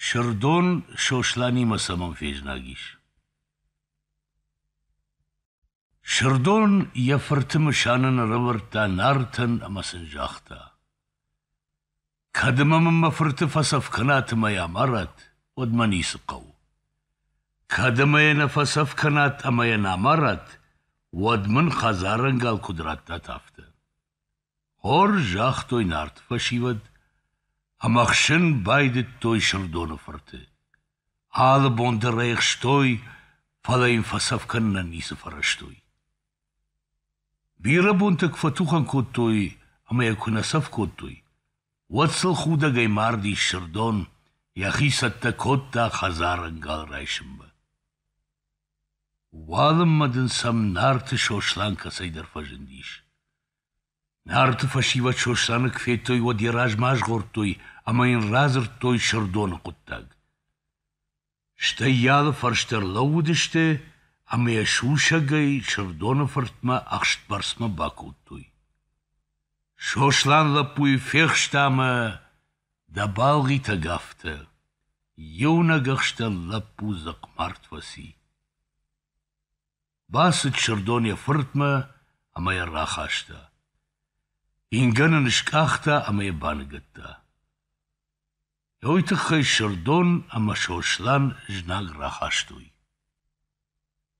Сырдон Сосланимӕ цӕмӕн фезнаг ис? Сырдон йӕ фырты мысанӕн ӕрӕвӕрдта Нартӕн ӕмӕ сын загъта: «Кӕд ма мын мӕ фырты фӕцӕф кӕнат ӕмӕ йӕ амарат, уӕд мӕ ницы хъӕуы. кӕд ӕмӕ йӕ нӕ фӕцӕф кӕнат ӕмӕ йӕ нӕ амарат, уӕд мын хӕдзарӕнгал куыд раттат, афтӕ. Хорз загътой нарт фӕсивӕд ӕмӕ хсын байдыдтой Сырдоны фырты. Алы бон дӕр ӕй хстой, фӕлӕ йын фӕцӕф кӕнынӕн ницы фӕрӕзтой. Бирӕ бонты куы фӕтухӕн кодтой ӕмӕ йӕ куы нӕ цӕф кодтой, уӕд сыл худӕгӕй мардис Сырдон, йӕхи цӕттӕ кодта хӕдзарӕнгал райсынмӕ. Уалынмӕ дын сӕм Нарты Сослан кӕцӕйдӕр фӕзындис. Нарты фӕсивӕд Сосланы куы федтой, уӕд йӕ размӕ азгъордтой ӕмӕ йын радзырдтой Сырдоны хъуыддаг. Стӕй йӕ алы фӕрстӕ ӕрлӕууыдысты ӕмӕ йӕ сусӕгӕй Сырдоны фыртмӕ ӕхстбӕрцмӕ бакодтой. Сослан лӕппуйы фехста ӕмӕ Дӕ балгъитӕг афтӕ: иунӕг ӕхстӕн лӕппу дзыхъмард фӕци. Бацыд Сырдон йӕ фыртмӕ ӕмӕ йӕ рахаста. Ингӕн ын скъахта ӕмӕ йӕ баныгӕдта. Уый тыххӕй Сырдон ӕмӕ Сослан знаг рахастой.